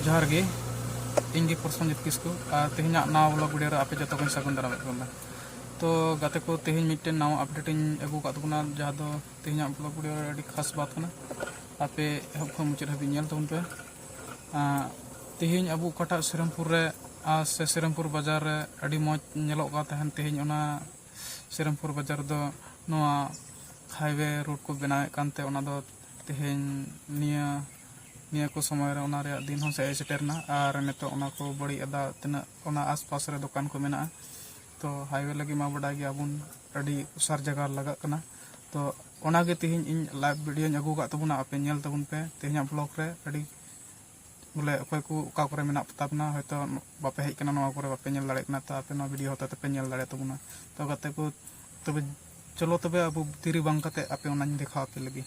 ᱡᱚᱦᱟᱨ ᱜᱮ ᱤᱧ ᱜᱮ ᱯᱨᱚᱥᱚᱱᱡᱤᱛ ᱠᱤᱥᱠᱩ ᱟᱨ ᱛᱮᱦᱮᱧᱟᱜ ᱱᱟᱣᱟ ᱵᱞᱚᱜ ᱵᱷᱤᱰᱤᱭᱳ ᱨᱮ ᱟᱯᱮ ᱡᱚᱛᱚ ᱠᱚᱧ ᱥᱟᱹᱜᱩᱱ ᱫᱟᱨᱟᱢᱮᱫ ᱵᱚᱱᱟ ᱛᱚ ᱜᱟᱛᱮ ᱠᱚ ᱛᱮᱦᱮᱧ ᱢᱤᱫᱴᱮᱱ ᱱᱟᱣᱟ ᱟᱯᱰᱮᱴ ᱤᱧ ᱟᱹᱜᱩ ᱟᱠᱟᱫ ᱛᱟᱵᱚᱱᱟ ᱡᱟᱦᱟᱸ ᱫᱚ ᱛᱮᱦᱮᱧᱟᱜ ᱵᱞᱚᱜ ᱵᱷᱤᱰᱤᱭᱳ ᱨᱮ ᱟᱹᱰᱤ ᱠᱷᱟᱥ ᱵᱟᱛ ᱠᱟᱱᱟ ᱟᱯᱮ ᱮᱦᱚᱵ ᱠᱷᱚᱱ ᱢᱩᱪᱟᱹᱫ ᱦᱟᱹᱵᱤᱡ ᱧᱮᱞ ᱛᱟᱵᱚᱱ ᱯᱮ ᱛᱮᱦᱮᱧ ᱟᱵᱚ ᱚᱠᱟᱴᱟᱜ ᱥᱤᱨᱟᱢᱯᱩᱨ ᱨᱮ ᱥᱮ ᱥᱤᱨᱟᱢᱯᱩᱨ ᱵᱟᱡᱟᱨ ᱨᱮ ᱟᱹᱰᱤ ᱢᱚᱡᱽ ᱧᱮᱞᱚᱜ ᱠᱟᱱ ᱛᱟᱦᱮᱱ ᱛᱮᱦᱮᱧ ᱚᱱᱟ ᱥᱨᱤᱨᱟᱢᱯᱩᱨ ᱵᱟᱡᱟᱨ ᱫᱚ ᱱᱚᱣᱟ ᱦᱟᱭᱣᱮ ᱨᱳᱰ ᱠᱚ ᱵᱮᱱᱟᱣᱮᱫ ᱠᱟᱱᱛᱮ ᱚᱱᱟ ᱫᱚ ᱛᱮᱦᱮᱧ ᱱᱤᱭᱟᱹ ᱱᱤᱭᱟᱹ ᱠᱚ ᱥᱚᱢᱚᱭ ᱨᱮ ᱚᱱᱟ ᱨᱮᱭᱟᱜ ᱫᱤᱱ ᱦᱚᱸ ᱦᱮᱡ ᱥᱮᱴᱮᱨᱱᱟ ᱟᱨ ᱱᱤᱛᱚᱜ ᱚᱱᱟ ᱠᱚ ᱵᱟᱹᱲᱤᱡ ᱮᱫᱟ ᱛᱤᱱᱟᱹᱜ ᱚᱱᱟ ᱟᱥᱯᱟᱥ ᱨᱮ ᱫᱚᱠᱟᱱ ᱠᱚ ᱢᱮᱱᱟᱜᱼᱟ ᱛᱚ ᱦᱟᱭᱣᱮ ᱞᱟᱹᱜᱤᱫ ᱢᱟ ᱵᱟᱰᱟᱭ ᱜᱮᱭᱟᱵᱚᱱ ᱟᱹᱰᱤ ᱚᱥᱟᱨ ᱡᱟᱭᱜᱟ ᱞᱟᱜᱟᱜ ᱠᱟᱱᱟ ᱛᱚ ᱚᱱᱟᱜᱮ ᱛᱮᱦᱮᱧ ᱤᱧ ᱞᱟᱭᱤᱵᱷ ᱵᱷᱤᱰᱤᱭᱳᱧ ᱟᱹᱜᱩ ᱟᱠᱟᱫ ᱛᱟᱵᱚᱱᱟ ᱟᱯᱮ ᱧᱮᱞ ᱛᱟᱵᱚᱱ ᱯᱮ ᱛᱮᱦᱮᱧᱟᱜ ᱵᱞᱚᱜᱽ ᱨᱮ ᱟᱹᱰᱤ ᱵᱚᱞᱮ ᱚᱠᱚᱭ ᱠᱚ ᱚᱠᱟ ᱠᱚᱨᱮ ᱢᱮᱱᱟᱜ ᱯᱮᱛᱟ ᱵᱚᱱᱟ ᱦᱚᱭᱛᱚ ᱵᱟᱯᱮ ᱦᱮᱡ ᱠᱟᱱᱟ ᱱᱚᱣᱟ ᱠᱚᱨᱮ ᱵᱟᱯᱮ ᱧᱮᱞ ᱫᱟᱲᱮᱭᱟᱜ ᱠᱟᱱᱟ ᱛᱚ ᱟᱯᱮ ᱱᱚᱣᱟ ᱵᱷᱤᱰᱤᱭᱳ ᱦᱚᱛᱮ ᱛᱮᱯᱮ ᱧᱮᱞ ᱫᱟᱲᱮᱭᱟ ᱛᱟᱵᱚᱱᱟ ᱛᱚ ᱜᱟᱛᱮ ᱠᱚ ᱛᱚᱵᱮ ᱪᱚᱞᱚ ᱛᱚᱵᱮ ᱟᱵᱚ ᱛᱤᱨᱤ ᱵᱟᱝ ᱠᱟᱛᱮ ᱟᱯᱮ ᱚᱱᱟᱧ ᱫᱮᱠᱷᱟᱣ ᱟᱯᱮ ᱞᱟᱹᱜᱤᱫ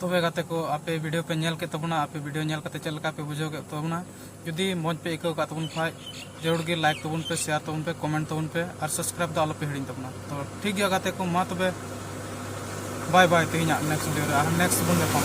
ᱛᱚᱵᱮ ᱜᱟᱛᱮ ᱠᱚ ᱟᱯᱮ ᱵᱷᱤᱰᱤᱭᱳ ᱯᱮ ᱧᱮᱞ ᱠᱮᱫ ᱛᱟᱵᱚᱱᱟ ᱟᱯᱮ ᱵᱷᱤᱰᱤᱭᱳ ᱧᱮᱞ ᱠᱟᱛᱮ ᱪᱮᱫ ᱞᱮᱠᱟ ᱯᱮ ᱵᱩᱡᱷᱟᱹᱣ ᱠᱮᱫ ᱛᱟᱵᱚᱱᱟ ᱡᱩᱫᱤ ᱢᱚᱡᱽ ᱯᱮ ᱟᱹᱭᱠᱟᱹᱣ ᱠᱟᱜ ᱛᱟᱵᱚᱱ ᱠᱷᱟᱡ ᱡᱟᱹᱨᱩᱲ ᱜᱮ ᱞᱟᱭᱤᱠ ᱛᱟᱵᱚᱱ ᱯᱮ ᱥᱮᱭᱟᱨ ᱛᱟᱵᱚᱱ ᱯᱮ ᱠᱚᱢᱮᱱᱴ ᱛᱟᱵᱚᱱ ᱯᱮ ᱟᱨ ᱥᱟᱵᱥᱠᱨᱟᱭᱤᱵ ᱫᱚ ᱟᱞᱚᱯᱮ ᱦᱤᱲᱤᱧ ᱛᱟᱵᱚᱱᱟ ᱛᱚ ᱴᱷᱤᱠ ᱜᱮᱭᱟ ᱜᱟᱛᱮ ᱠᱚ ᱢᱟ ᱛᱚᱵᱮ ᱵᱟᱭ ᱵᱟᱭ ᱛᱮᱦᱮᱧᱟᱜ ᱱᱮᱠᱥᱴ ᱵᱷᱤᱰᱤᱭᱳ ᱨᱮ ᱟᱨ ᱱᱮᱠᱥᱴ ᱵᱚᱱ ᱧᱟᱯᱟᱢ